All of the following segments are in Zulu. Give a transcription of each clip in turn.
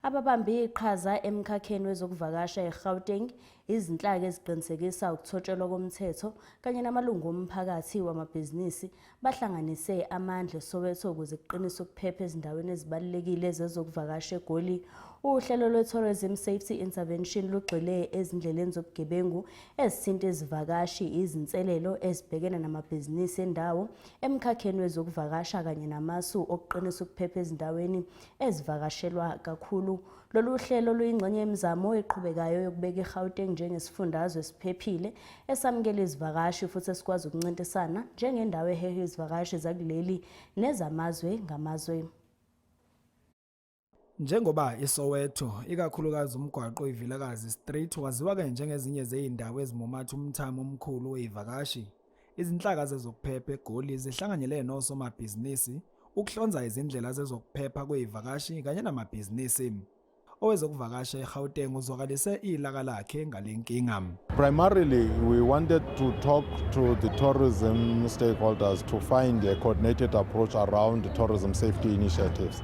Ababambe iqhaza emkhakheni wezokuvakasha eGauteng, izinhlaka eziqinisekisa ukuthotshelwa komthetho kanye namalungu omphakathi wamabhizinisi bahlanganise amandla eSoweto ukuze kuqinise ukuphepha ezindaweni ezibalulekile zezokuvakasha eGoli. Uhlelo lwe-Tourism Safety Intervention lugxile ezindleleni zobugebengu ezithinta izivakashi, izinselelo ezibhekene namabhizinisi endawo emkhakheni wezokuvakasha kanye namasu okuqinisa ukuphepha ezindaweni ezivakashelwa kakhulu. Lolu hlelo luyingxenye yemizamo eqhubekayo yokubeka iGauteng njengesifundazwe esiphephile, esamukela izivakashi futhi esikwazi ukuncintisana njengendawo eheha izivakashi zakuleli nezamazwe ngamazwe. Njengoba iSoweto, ikakhulukazi umgwaqo iVilakazi Street waziwa-ke njengezinye zezindawo ezimumatha umthamo omkhulu wezivakashi, Izinhlaka zezokuphepha eGoli zihlanganyele nosomabhizinisi ukuhlonza izindlela zezokuphepha kwezivakashi kanye namabhizinisi. Owezokuvakasha eGauteng uzwakalise ilaka lakhe ngalenkinga. Primarily we wanted to talk to the tourism stakeholders to find a coordinated approach around tourism safety initiatives.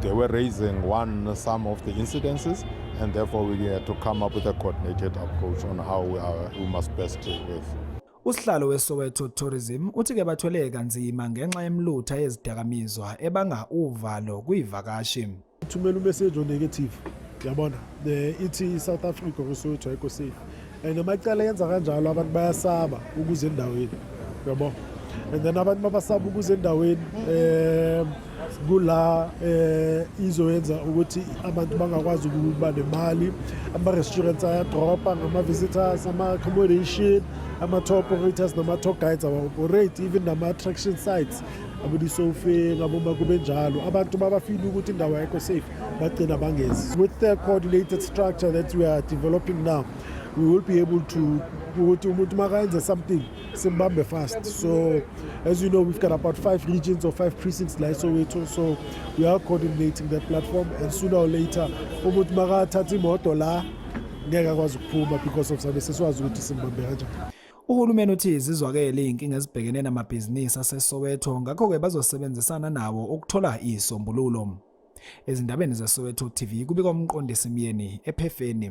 they were raising one some of the incidences and therefore we had to come up with a coordinated approach on how we, are, we must best deal with. Usihlalo weSoweto Tourism uthi ke bathwele kanzima ngenxa yemlutha yezidakamizwa ebanga uvalo kuyivakashi. Thumela umessage o negative. Yabona, the ithi South Africa kusuthu ayikho safe. And amacala yenza kanjalo abantu bayasaba ukuze endaweni. Yabo. And then abantu mabasaba ukuze endaweni eh kula eh izoyenza ukuthi abantu bangakwazi ukuba nemali ama restaurants ayadropa ngama visitors ama accommodation ama tour operators nama tour guides awa operate even nama attraction sites abona isofe ngaboma kube njalo abantu babafile ukuthi indawo ayikho safe bagcina bangezi with the coordinated structure that we are developing now we will be able to ukuthi umuntu makayenze something simbambe fast so as you know we've got about five regions or five precincts la esowethu so we are coordinating that platform and sooner or later umuntu makathatha imoto la ngeke akwazi ukuphuma because of sabe sesiwazi ukuthi simbambe kanjani Uhulumeni uthi zizwakele izinkinga ezibhekene namabhizinisi aseSoweto ngakho-ke bazosebenzisana nawo ukuthola izisombululo. Ezindabeni zeSoweto TV kubika umqondisi Myeni ephefeni.